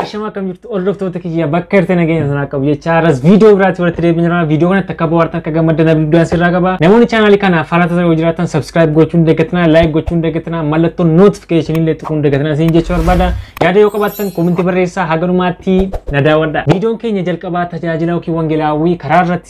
Ashama akkam jirtu hordoftoota kiyya bakka irratti nageenya sanaa qabu jecha har'as viidiyoo biraatti walitti deebiin jira. Viidiyoo kanatti akka bohaartan akka gammaddan abdii guddaan sirraa qaba. Namoonni chaanaalii kana faana tasaa yoo jiraatan subscribe gochuun deeggatinaa, like gochuun deeggatinaa, mallattoo notification illee tuquun deeggatinaa isin jechuu barbaada. Yaada yoo qabaattan koomentii barreessaa haganumaatti na daawwadha. Viidiyoon keenya jalqabaa tajaajila yookiin wangeelaawwii karaa irratti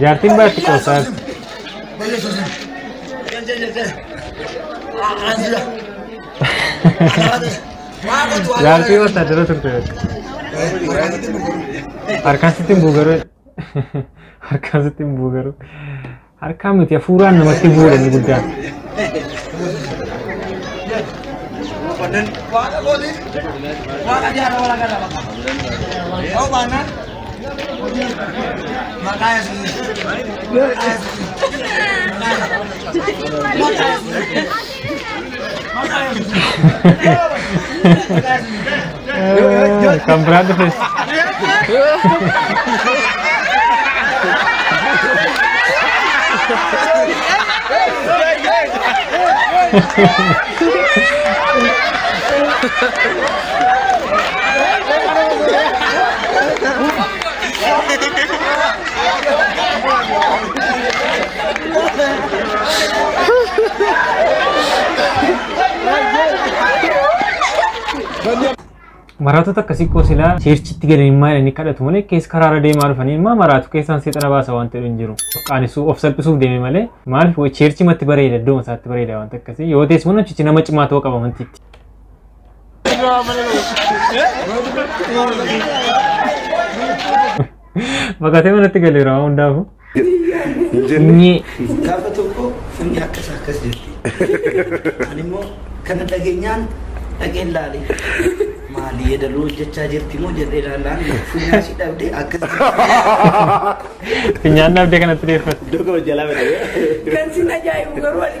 Jaartiin baatti qoosaa jaartii wattaajjira turte harkaan sitti hin buugaruu harkaan sitti hin buugaruu harkaa miti hafuuraan namatti bu'uudha inni guddaan. Waaqa kootiif waaqa jaarraa walakkaa lama. Yoo baannaan Kan biraan dhufes. Maraatota akkasii koo silaa seerchitti galanii immaa jedhanii kadhatu malee keessa karaarra deemaa dhufanii immaa maraatu keessaan seexana baasa waan ta'e hin jiru. Qaanisuu of salphisuuf deeme malee maaliif seerchi matti bareeda iddooma isaatti bareeda waan akkasii yoo ta'es mana cichi nama cimaa ta'uu qaba mantiitti. Fakkaatee manatti galeera waan hundaafuu. Hin jenne. Nyee. Gaafa tokko funni akkas akkas jirti. Ani immoo kana dhageenyaan dhageen laale. Maali yeedaloo hojjechaa jirti moo jedhee laalaan funyaan si dhabde akkas jirti. Finyaan dhabdee kanatti deeffate. Durga hojjalaa bada. Kan sin ajaa'ibu garuu ani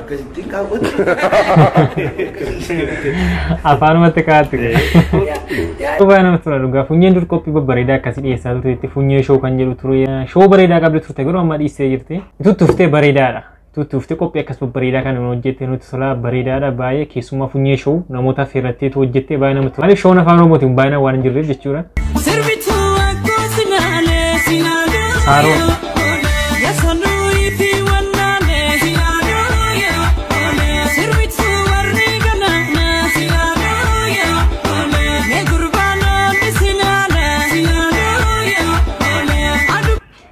Akkasittiin kaawwatu. Afaanumatti kaa'atti. Baay'ee namatti tola dhugaa. Funyeen dur qophii babbareedaa akkasii dhiyeessaa turte itti funyee shoo kan jedhu ture. Shoo bareedaa qabdi turte garuu amma dhiistee jirti. Tutti uftee bareedaadha. Tutti uftee qophii akkas babbareedaa kan nama hojjette nutti tola bareedaadha baay'ee keessumaa funyee shoo namoota affeerrattee tu hojjette baay'ee namatti tola. Maaliif shoon afaan oromootiin baay'inaan waan hin jirreef jechuudha. Sirbituu akka sinaalee sinaalee. Saaroo.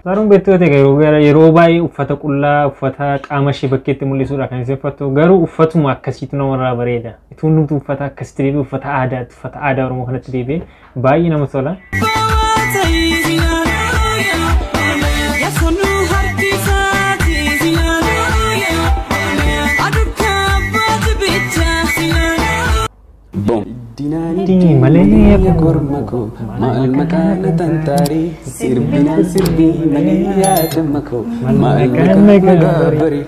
Faaruun beektoota garuu gara yeroo baay'ee uffata qullaa uffata qaama ishee bakkeetti mul'isuudha kan isheen uffattu garuu uffatuma akkasiitu namarraa bareeda. Ituun nuti uffata akkasitti deebi'e uffata aadaatti uffata aadaa Oromoo kanatti deebi'e Baay'ee namatti tola. Dinii malee akka korma koo maal maqaan na tantaarii sirbinaan sirbii malee yaadama koo maal maqaan na gaabarii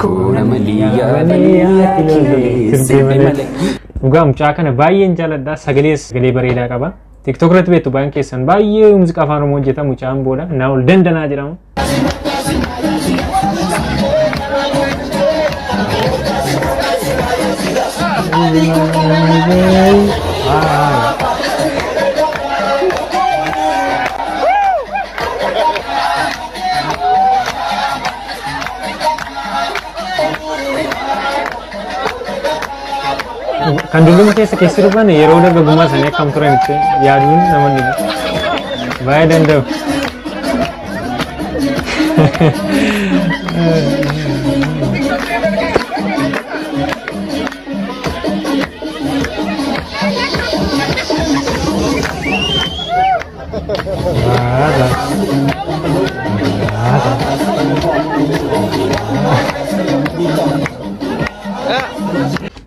Koona malii Dhugaa mucaa kana baay'een jaaladha. Sagalees sagalee bareedaa qaba. TikTok irratti beektu baay'een keessan baay'ee muuziqaa afaan Oromoo hojjeta mucaan booda naa ol dandanaa jedhama. Kan dulluma keessa keessi dhufan yeroo dargaggummaa isaanii akkam turan itti yaaduun nama dhiba. Baay'ee danda'u.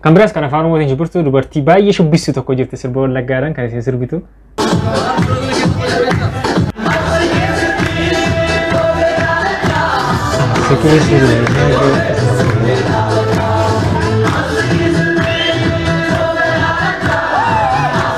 Kan biraas kan afaan Oromootiin shubbiftu dubartii baay'ee shubbissu tokko jirti sirba wallaggaadhaan kan isin sirbitu.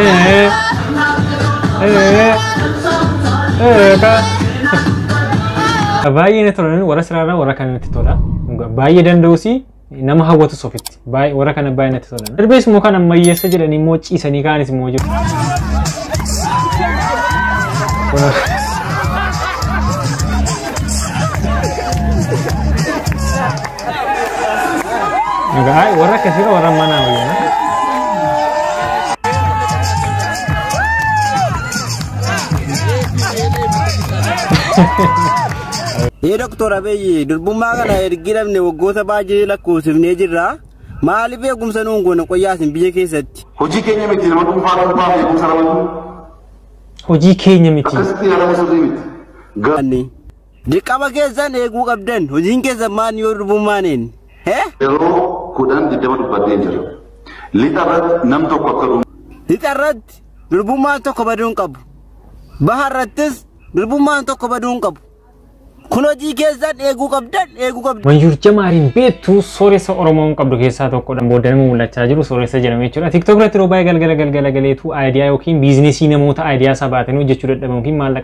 Eh. Eh. Eh, ka. Baay'ee na tolan warra siraarraa warra kana natti tola. Dhugaa Baay'ee danda'usi nama hawwatus ofitti. Baay'ee warra kana baay'ee natti tola. Darbees immoo kan ammayyeessa jedhanii immoo ciisanii kaanis immoo jiru. Kun- Ay, warra akkasii dha warra manaa wayyaa. Ee doktor Abiyyi durbummaa kana ergi dhabne waggoota baay'ee lakkoofsifnee jirra. Maaliif eegumsa nuun goone qoyyaasin biyya keessatti? Hojii keenya miti nama dhuunfaa dhuunfaa fi eegumsa ramaduu Hojii keenya miti. akkasitti yaadama sirrii miti. Garuu Anni. Dirqama keessan eeguu qabdan. Hojiin keessan maan yoo durbummaaneen. Hee? Yeroo kudhan digdama dubbadheen jira. Lixa irratti nam tokko akka dhumu. Lixa irratti durbummaan tokko baduu hin qabu. Baha irrattis durbummaan tokko baduu hin qabu. Kun hojii keessan eeguu qabdan eeguu qabdan. Wanjur Jamaariin beektu sooressa Oromoon qabdu keessaa tokkodha. Booda nama mul'achaa jiru sooressa jedhame jechuudha. TikTok irratti yeroo baay'ee galgala galgala galeetu aayidiyaa yookiin biizinesii namoota aayidiyaa isaa baatanii hojjechuu dadhaban yookiin maallaqa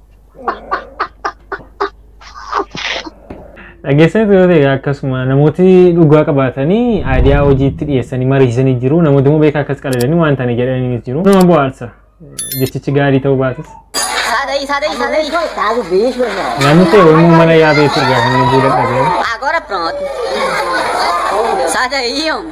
Dhageessanii yoo ta'e akkasuma namooti dhugaa qabaatanii aadiyaa hojiitti dhiyeessanii mariisanii jiru. Namooti immoo beekaa akkas qalalanii waan ta'anii jedhanii jiru. Nama bohaarsa. Jechichi gaarii ta'uu baatus. Sadai, sadai, sadai. Tahu bis mana? Namni ta'e yommuu mana yaabee turgaa kan lubbuu dadhabee. Agora pronto. Sadai, homem.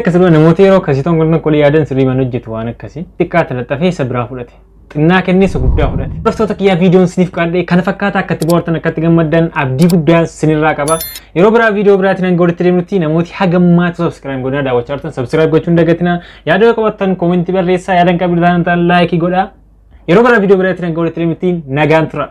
Akkasuma namoota yeroo akkasii tokko tokko qolii yaadan sirrii mana hojjetu waan akkasii xiqqaa talaxxafee isa biraa fudhate. Xinnaa kennee isa guddaa fudhate. Hordoftoota kiyyaa viidiyoon siniif qaadhee kana fakkaata akka itti bohaartan akka itti gammaddan abdii guddaa sinirraa qaba. Yeroo biraa viidiyoo biraatiin hanga walitti deemnutti namooti hagammaatu subscribe godhaa daawwachaa jirtan subscribe gochuun dagatina. Yaada yoo qabattan koomentii barreessaa yaada hin qabne taanaan ta'an laayikii godhaa. Yeroo gara viidiyoo biraatti nagaan walitti deemittiin nagaan tura.